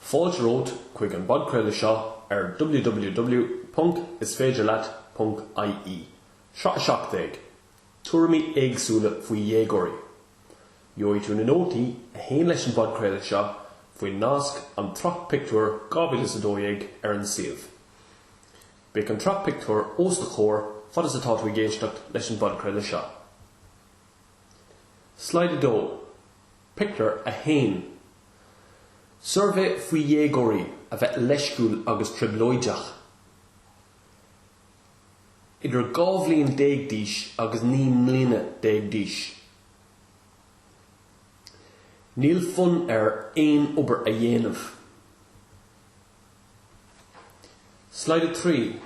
Fáilte romhat chuig an bpodchraoladh seo ar www.isféidirleat.ie. Sraith 17, Tuairimí éagsúla faoi dhéagóirí. Gheobhaidh tú na nótaí a théann leis an bpodchraoladh seo faoin nasc An tSraith Pictiúir 2012 ar an suíomh. Beidh an tsraith pictiúir os do chomhair fad is atá tú ag éisteacht leis an bpodchraoladh seo. Slide 2. Pictiúr 1 Suirbhé faoi dhéagóirí a bheith leisciúil agus trioblóideach, idir dhá bhliain déag d'aois agus naoi mbliana déag d'aois. Níl fonn air aon obair a dhéanamh. Slide 3,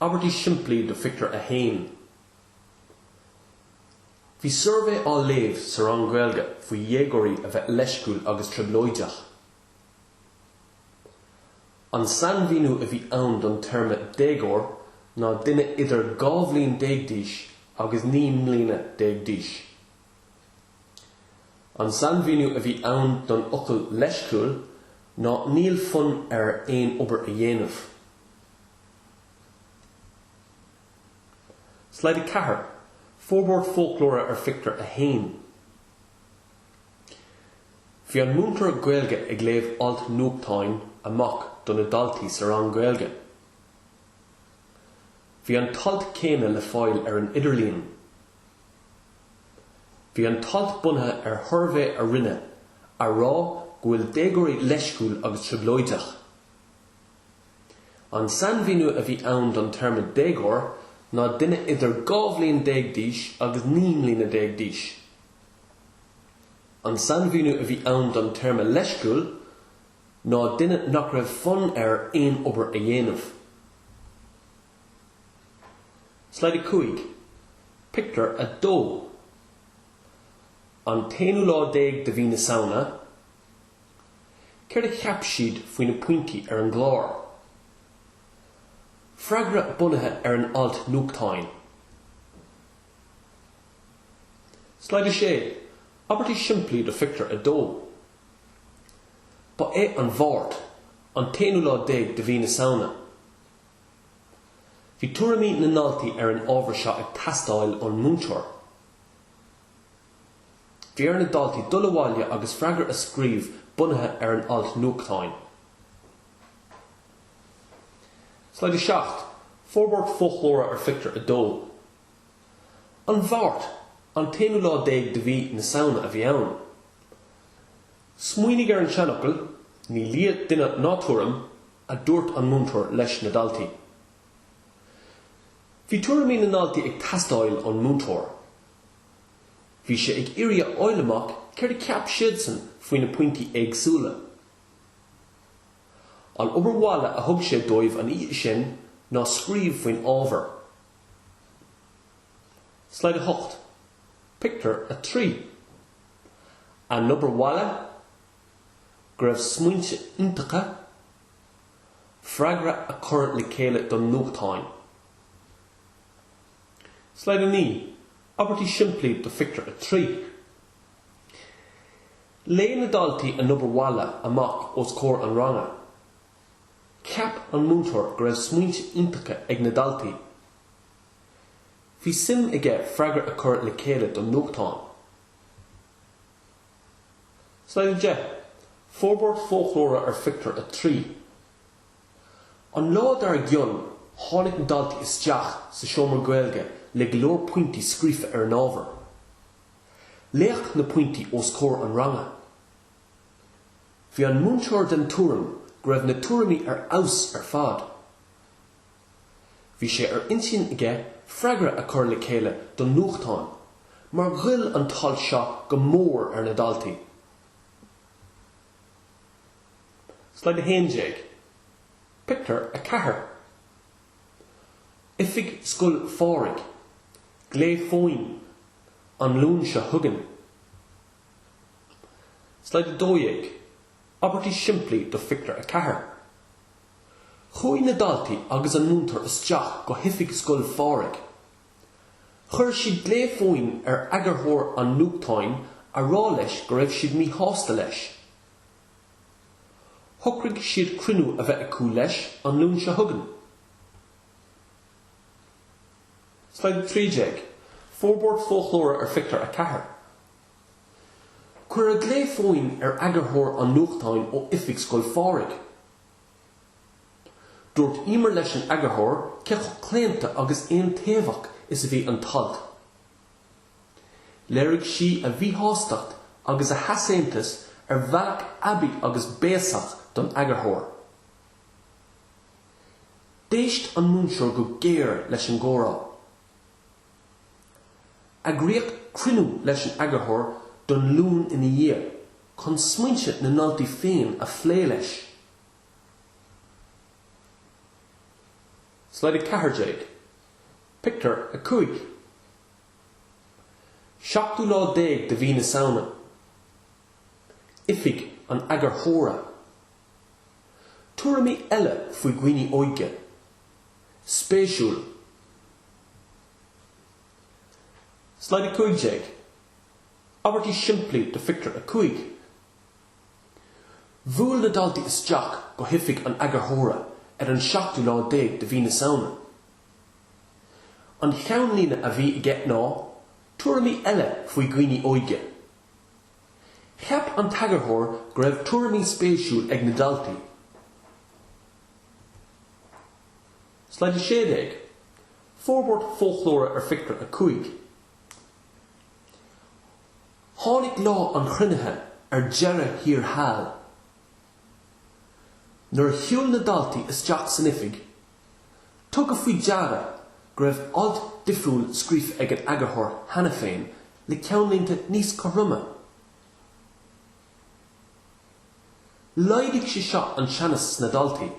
Abairtí simplí do Phictiúr 1. Bhí suirbhé á léamh sa rang Gaeilge faoi dhéagóirí a bheith leisciúil agus trioblóideach. An sainmhíniú a bhí ann don téarma 'déagóir' ná duine idir dhá bhliain déag d'aois agus naoi mbliana déag d'aois. An sainmhíniú a bhí ann don fhocal 'leisciúil' ná 'níl fonn air aon obair a dhéanamh'. Slide 4, Forbairt Foclóra ar Phictiúr 1 Bhí an múinteoir Gaeilge ag léamh alt nuachtáin amach do na daltaí sa rang Gaeilge. Bhí an t-alt céanna le fáil ar an idirlíon. Bhí an t-alt bunaithe ar shuirbhé a rinneadh a rá go bhfuil déagóirí leisciúil agus trioblóideach. An sainmhíniú a bhí ann don téarma déagóir ná duine idir dhá bhliain déag d'aois agus naoi mbliana déag d'aois. An sainmhíniú a bhí ann don téarma leisciúil ná duine nach raibh fonn air aon obair a dhéanamh. Slide 5, Pictiúr 2 An t-aonú lá déag de mhí na Samhna, Céard a cheap siad faoi na pointí ar an gclár? Freagra bunaithe ar an alt nuachtáin. Slide 6, Abairtí simplí do Phictiúr 2 Ba é an Mháirt an t-aonú lá déag de mhí na Samhna. Bhí tuairimí na ndaltaí ar an ábhar seo ag teastáil ón múinteoir. Bhí ar na daltaí dul abhaile agus freagra a scríobh bunaithe ar an alt nuachtáin. Slide 7, Forbairt foclóra ar Phictiúr 2. An Mháirt, an t-aonú lá déag de mhí na Samhna a bhí ann. Smaoinigh ar an seanfhocal, Ní lia duine ná tuairim, a dúirt an múinteoir leis na daltaí. Bhí tuairimí na ndaltaí ag teastáil ón múinteoir. Bhí sé ag iarraidh a fháil amach céard a cheap siadsan faoi na pointí éagsúla. An obair bhaile a thug sé dóibh an oíche sin ná scríobh faoin ábhar. Slide 8, Pictiúr 3 A n-obair bhaile? Go raibh smaointe iontacha? Freagra a chur le chéile don nuachtán. Slide 9, Abairtí simplí do phictiúr 3. Léigh na daltaí a n-obair bhaile amach os comhair an ranga. Cheap an múinteoir go raibh smaointe iontacha ag na daltaí. Bhí suim aige freagra a chur le chéile don nuachtán. Slide 10, Forbairt foclóra ar phictiúr 3. An lá dár gcionn, tháinig na daltaí isteach sa seomra Gaeilge le go leor pointí scríofa ar an ábhar. Léadh na pointí os comhair an ranga. Bhí an múinteoir den tuairim go raibh na tuairimí ar fheabhas ar fad. Bhí sé ar intinn aige freagra a chur le chéile don nuachtán mar ghoill an t-alt seo go mór ar na daltaí. Slide 11, Pictiúr 4. Oifig Scoil Phádraig, Glao Fóin, An Luan seo chugainn. Slide 12, Abairtí simplí do Phictiúr 4. Chuaigh na daltaí agus an múinteoir isteach go hoifig Scoil Phádraig. Chuir siad glao fóin ar eagarthóir an nuachtáin a rá leis go raibh siad míshásta leis. Shocraigh siad cruinniú a bheith acu leis an Luan seo chugainn. Slide 13, Forbairt Foclóra ar Phictiúr 4. Cuireadh glao fóin ar eagarthóir an nuachtáin ó Oifig Scoil Phádraig. Dúirt Emer leis an eagarthóir cé chomh claonta agus aontaobhach is a bhí an t-alt. Léirigh sí a míshástacht agus a heasaontas ar bhealach aibí agus béasach don eagarthóir. D'éist an múinteoir go géar leis an gcomhrá. Eagraíodh cruinniú leis an eagarthóir don Luan ina dhiaidh chun smaointe na ndaltaí féin a phlé leis. Slide 14, Pictiúr 5. 7ú lá déag de mhí na Samhna, Oifig an Eagarthóra. Tuairimí eile faoi dhaoine óige? Spéisiúil. Slide 15, Abairtí simplí do Phictiúr 5 Bhuail na daltaí isteach go hOifig an Eagarthóra ar an 7ú lá déag de mhí na Samhna. An cheannlíne a bhí aige ná, Tuairimí eile faoi dhaoine óige. Cheap an t-eagarthóir go raibh tuairimí spéisiúla ag na daltaí. Slide 16, Forbairt Foclóra ar Phictiúr 5. Tháinig lá an chruinnithe ar deireadh thiar thall. Nuair a shiúil na daltaí isteach san oifig, Tugadh faoi deara go raibh alt difriúil scríofa ag an eagarthóir cheana féin le ceannlínte níos cothroime. Laghdaigh sé seo an teannas sna daltaí.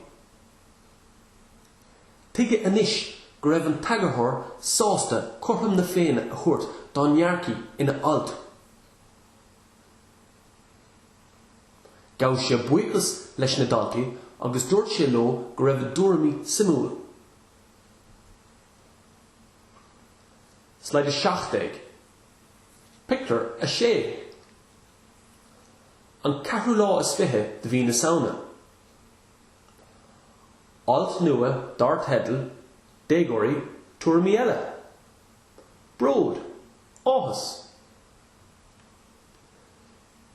Tuigeadh anois go raibh an t-eagarthóir sásta cothrom na Féinne a thabhairt dá ndearcthaí ina alt. Ghabh sé buíochas leis na daltaí agus dúirt sé leo go raibh a dtuairimí suimiúil. Slide 17, Pictiúr 6 An ceathrú lá is fiche de mhí na Samhna. Alt nua dar teideal Déagóirí, Tuairimí Eile? Bróid, áthas.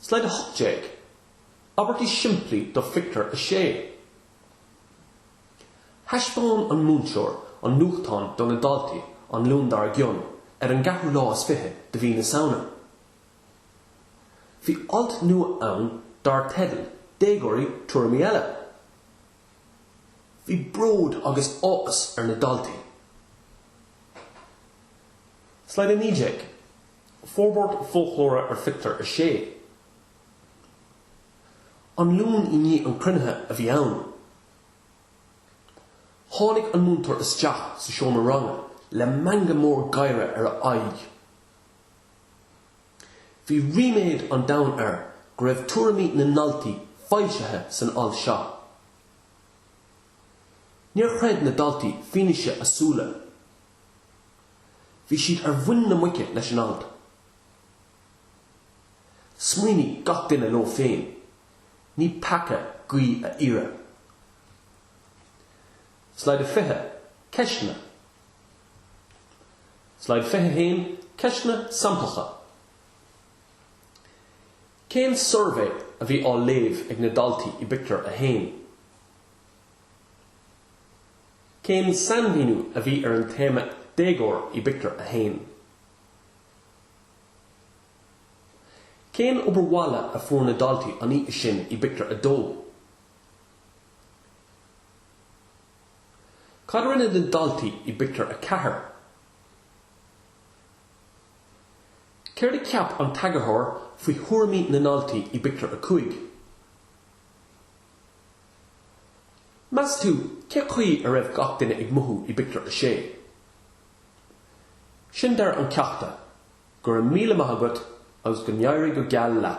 Slide 18, Abairtí simplí do phictiúr a sé. Thaispeáin an múinteoir an nuachtán do na daltaí an Luan dár gcionn ar an gceathrú lá is fiche de mhí na Samhna. Bhí alt nua ann dar teideal 'Déagóirí, Tuairimí Eile'. Bhí bród agus áthas ar na daltaí. Slide 19. Forbairt Foclóra ar Phictiúr a Sé. An Luan i ndiaidh an chruinnithe a bhí ann. Tháinig an múinteoir isteach sa seomra ranga le meangadh mór gáire ar a aghaidh. Bhí ríméad an domhain air go raibh tuairimí na ndaltaí foilsithe san alt seo. Níor chreid na daltaí fianaise a súile. Bhí siad ar mhuin na muice leis an alt. Smaoinigh gach duine leo féin, ní peaca guí a iarraidh. Slide 20, Ceisteanna Slide 21, Ceisteanna samplacha Cén suirbhé a bhí á léamh ag na daltaí i bpictiúr a haon? Cén sainmhíniú a bhí ar an téarma 'déagóir' i bpictiúr a haon? Cén obair bhaile a fuair na daltaí an oíche sin i bpictiúr a dó? Cad a rinne na daltaí i bpictiúr a ceathair? Céard a cheap an t-eagarthóir faoi thuairimí na ndaltaí i bpictiúr a cúig? Meas tú cé chaoi a raibh gach duine ag mothú i bpictiúr a sé? Sin deireadh an cheachta, go raibh míle maith agat agus go n-éirí go geal leat!